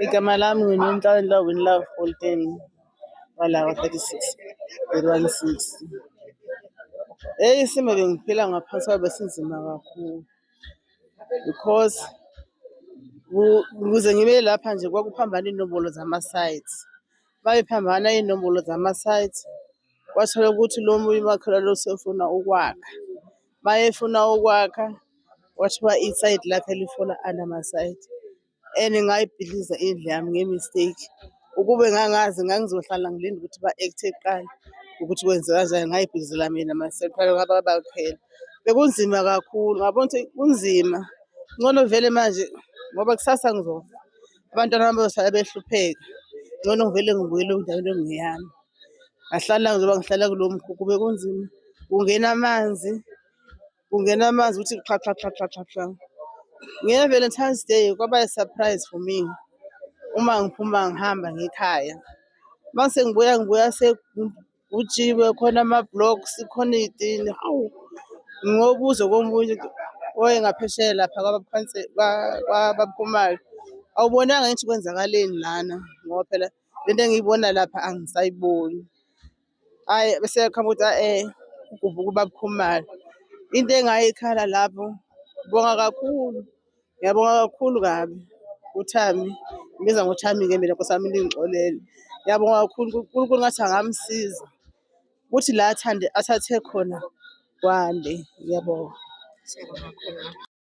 Igama lami nginonhlanhla Winlove Holten walawa 36 160. Eyi isimo bengiphila ngaphansi kwayo besinzima kakhulu because ukuze ngibe lapha nje kwakuphambana iy'nombolo zama-sites. Uma iphambana iy'nombolo zama-sites kwathola ukuthi lo munye umakhelwane lo usefuna ukwakha. Uma efuna ukwakha kwathiwa isayidi lakhe lifuna anama-site. and ngayibhidliza indlu yami ngemistake ukube ngangazi ngangizohlala ngilinde ukuthi ba-akthe kuqala ukuthi kwenzeka njani ngayibhidlizela mina maseqala ngaba bakhela bekunzima kakhulu ngabona ukuthi kunzima ngcono vele manje ngoba kusasa ngizofa abantwana bami bazosala behlupheka ngcono ngivele ngibuyele endaweni engeyami ngahlala ngizoba ngihlala kulo mkhukhu bekunzima kungena amanzi kungena amanzi ukuthi qha qha qha qha qha qha nge-valentines day kwaba i-surprise for me uma ngiphuma ngihamba ngekhaya uma sengibuya ngibuya sekujiwe khona ama-blocks khona iy'tini hawu ngobuzo komunye oye ngaphesheya lapha kwababakhumayo awubonanga ngithi kwenzakaleni lana ngoba phela le nto engiyibona lapha angisayiboni Hhayi bese yakhamba ukuthi a-e eh, ugubuka ubaba Khumalo. Into engayikhala lapho, bonga kakhulu, ngiyabonga kakhulu kabi uThami. Ngibiza ngoThami-ke mina nkosi yami lingixolele. Ngiyabonga kakhulu uNkulunkulu ngathi angamsiza ukuthi la athande athathe khona kwande. Ngiyabonga.